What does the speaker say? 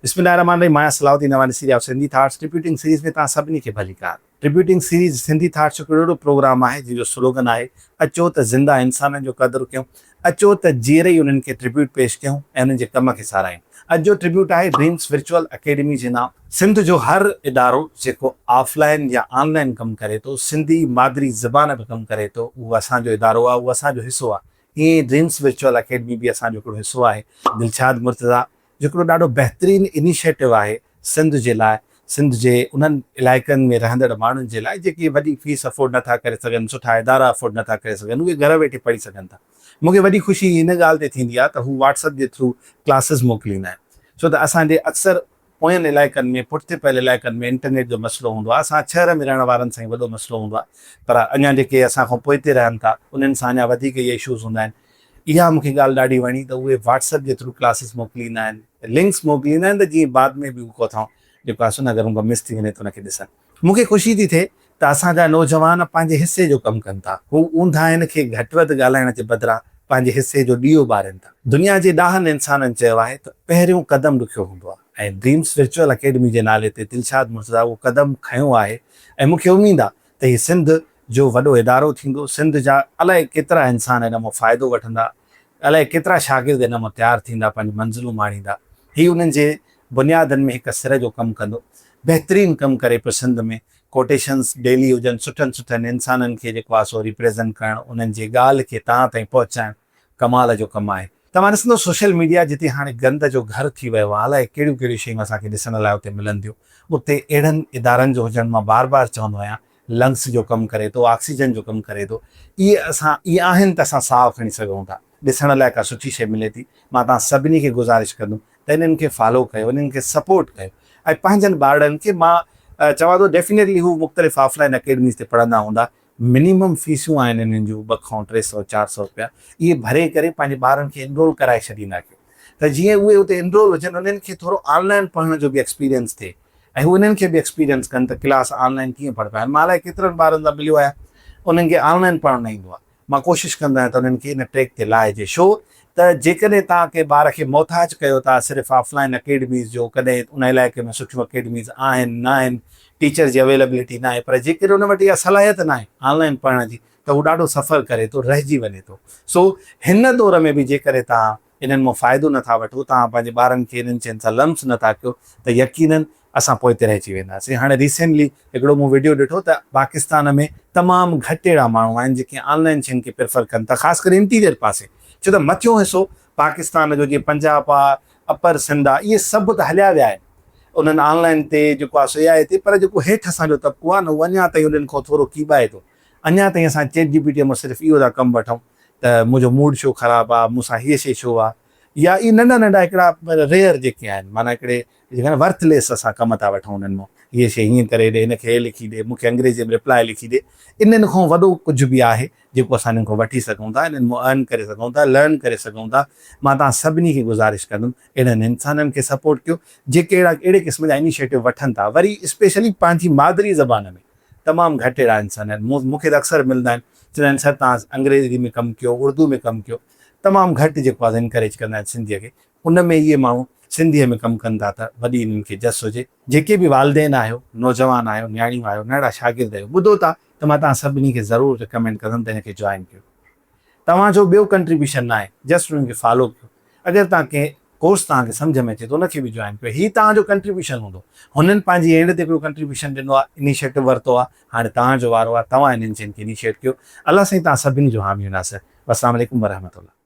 بسم الله الرحمٰن الرحيم آهيان Salahuddin Nawani series of Sindhi thoughts tributing series ۾ توهان سڀني کي ڀليڪار ٽربيوٽنگ سيريز سنڌي ٿاٽس هڪڙو اهڙو پروگرام آهي جنهن جو سلوگن آهي اچو ته زنده انسانن جو قدر ڪيون اچو ته جيئري ئي انهن کي ٽربيوٽ پيش ڪيون ۽ انهن جي ڪم کي ساراهيون اڄ جو ٽربيوٽ آهي ڊريمز ورچوئل اڪيڊمي جي نام سنڌ جو هر ادارو جيڪو آف لائن يا آن لائن ڪم ڪري ٿو سنڌي مادري زبان به ڪم ڪري ٿو اهو اسان جو ادارو آهي اهو اسان جو حصو آهي ائين ئي ڊريمز ورچوئل اڪيڊمي به اسان جو هڪڙو حصو آهي دلشاد مرتضيٰ هڪڙو ڏاڍو بهترين انيشيٽو آهي سنڌ جي لاء، سنڌ جي انهن علائقن ۾ رهندڙ ماڻهن جي لاء جيڪي وڏي فيس افورڊ نٿا ڪري سگهن، سٺا ادارا افورڊ نٿا ڪري سگهن اهي گهر ويٺي پڙهي سگهن ٿا. مون کي وڏي خوشي ان ڳالهه تي ٿيندي آهي ته هو واٽس اپ جي ٿرو ڪلاسز موڪليندا آهن ڇو ته اسان جي اڪثر پوين علائقن ۾ پٺتي پيل علائقن ۾ انٽرنيٽ جو مسئلو هوندو آهي، اسان شهر ۾ رهڻ وارن سان ئي وڏو مسئلو هوندو آهي پر اڃا جيڪي اسان کان پوئتي رهن ٿا انهن سان اڃا وڌيڪ اهي اشوز هوندا آهن. اها مون کي ڳالهه ڏاڍي وڻي ته اهي واٽس ايپ جي ٿرو ڪلاسز موڪليندا آهن لنڪس موڪليندا آهن ته جيئن بعد ۾ به هو ڪوٿائون جيڪو آسو نه اگر هن کان مس ٿي وڃي ته ان کي ڏسن مون کي خوشي ٿي ٿئي ته اسان جا نوجوان پنهنجي حصي جو ڪم ڪن ٿا هو اونداهين کي گهٽ وڌ ڳالهائڻ جي بدران پنهنجي حصي جو ڏيئو ٻارين ٿا. دنيا جي ڏاهن انسانن چيو آهي ته پهريون قدم ڏکيو هوندو آهي ۽ ڊريمز ورچوئل اڪيڊمي جي نالي تي دلشاد مرتضيٰ اهو قدم کنيو آهي ۽ مون کي اميد آهي ته هي سنڌ جو وڏو ادارو ٿيندو، سنڌ جا الائي ڪيترا انسان ان مان فائدو وٺندا، الائي ڪيترا شاگرد ان مان تيار ٿيندا، پنهنجون منزلون ماڻيندا، هي انهن جي بنيادن ۾ هڪ سر جو ڪم ڪندو، بهترين ڪم ڪري پيو سنڌ ۾ ڪوٽيشنز ڊيلي هجن، سٺن سٺن انسانن کي جيڪو آ سو ريپريزنٽ ڪرڻ، انهن جي ڳالهه کي تهان تائين پهچائڻ. ڪمال جو ڪم آهي. توهان ڏسندو سوشل ميڊيا جتي هاڻي گند جو گهر ٿي ويو آهي الائي ڪهڙيون ڪهڙيون شيون اسان کي ڏسڻ لاء اتي ملن ٿيون اتي اهڙن ادارن جو هجڻ مان بار بار چوندو آهيان لنگس جو ڪم ڪري ٿو آڪسيجن جو ڪم ڪري ٿو اهي اسان اهي آهن ته اسان ساهه کڻي سگهون ٿا ڏسڻ لاء ڪا سٺي شيء ملي ٿي مان توهان سڀني کي گذارش ڪندم ته انهن کي فالو ڪيو انهن کي سپورٽ ڪيو ۽ پنهنجن ٻارڙن کي مان چوان ٿو ڊيفينيٽلي هو مختلف آف لائن اڪيڊميز تي پڙهندا هوندا منيمم فيسون آهن انهن جون ٻه کان ٽي سؤ چار سؤ رپيا اهي ڀري ڪري پنهنجي ٻارن کي انرول ڪرائي ڇڏيندا ڪيو ته جيئن اهي اتي انرول هجن انهن کي ٿورو آن لائين پڙهڻ جو به ايڪسپيرينس ٿئي ۽ هو انهن کي به ايڪسپيرينس ڪن ته ڪلاس آن لائين ڪيئن پڙهبا آهن مان الائي ڪيترن ٻارن سان مليو آهيان انهن کي آن لائين پڙهڻ نه ايندو آهي مان ڪوشش ڪندو آهيان ته انهن کي ان ٽريڪ تي لائجي شو ته جيڪڏهن توهان ڪنهن ٻار کي محتاج ڪيو ٿا صرف آف لائين اڪيڊميز جو ڪڏهن ان علائقي ۾ سٺيون اڪيڊميز آهن ناهن ٽيچر جي اويلبلٽي ناهي پر جيڪڏهن ان وٽ اها صلاحيت ناهي آن لائن پڙهڻ جي ته هو ڏاڍو سفر ڪري ٿو رهجي وڃي ٿو سو هن دور ۾ به جيڪڏهن توهان انهن مان فائدو نٿا وٺو توهان پنهنجي ٻارن کي انهن شين سان لمس نٿا ڪيو ته يقينن اسان پوئتي رهجي وينداسين هاڻي ريسينٽلي هڪڙو مون وڊيو ڏٺو ته پاڪستان ۾ تمام گهٽ اهڙا ماڻهو آهن جيڪي آن لائن شين کي پريفر ڪن ٿا خاص ڪري انٽيريئر پاسي ڇو ته مٿيون حصو پاڪستان جو جيئن پنجاب آهي اپر سنڌ آ اهي سڀ ته هليا ويا آهن انهن آن لائين تي جيڪو آ سو اي آئي تي پر جيڪو هيٺ اسان جو طبقو آ نه اهو اڃان تائين انهن کان ٿورو ڪيٻائي ٿو اڃان تائين اسان چيٽ جي پي ٽي مان صرف اهو ٿا ڪم وٺون ته منهنجو موڊ ڇو خراب آ مون سان هيء شي ڇو آ يا اهي ننڍا ننڍا هڪڙا ريئر جيڪي آهن معنيٰ هڪڙي جيڪي آهن ورٿ ليس اسان ڪم ٿا وٺون انهن مان هيء شي هيئن ڪري ڏي هن کي هيء لکي ڏي مون کي انگريزي ۾ رپلائي لکي ڏي انهن کان وڏو ڪجهه به آهي جيڪو اسان انهن کان وٺي سگهون ٿا، انهن مان Earn ڪري سگهون ٿا، Learn ڪري سگهون ٿا، مان توهان سڀني کي گذارش ڪندم اهڙن انسانن کي سپورٽ ڪيو جيڪي اهڙا اهڙي قسم جا انيشيٽو وٺن ٿا وري اسپيشلي پنهنجي مادري زبان ۾، تمام گهٽ اهڙا انسان آهن، مون مون کي ته اڪثر ملندا آهن چوندا آهن سر توهان انگريزي ۾ ڪم ڪيو، اردو ۾ ڪم ڪيو، تمام گهٽ جيڪو آهي سو انڪريج ڪندا آهن سنڌيء کي، ان ۾ اهي ماڻهو سنڌيء ۾ ڪم ڪن ٿا ته وڏي انهن کي جس هجي. جيڪي به والدين آهيو، نوجوان آهيو، نياڻيون آهيو، نئڙا شاگرد آهيو، ٻڌو ٿا ته مان توهان سڀني کي ضرور رڪمينڊ ڪندم ته هن کي جوائن ڪيو. توهان جو ٻيو ڪنٽريبيوشن ناهي، جسٽ انهن کي فالو ڪيو. اگر توهان ڪنهن ڪورس توهان کي سمجهه ۾ اچي ته ان کي به جوائن ڪيو. هي توهان جو ڪنٽريبيوشن هوندو. هنن پنهنجي اينڊ تي هڪڙو ڪنٽريبيوشن ڏنو آهي، انيشيٽو ورتو آهي، هاڻي توهان جو وارو آهي، توهان انهن شين کي انيشيٽ ڪيو. الله سائين توهان سڀني جو حامي و ناصر. والسلام عليڪم ورحمة الله.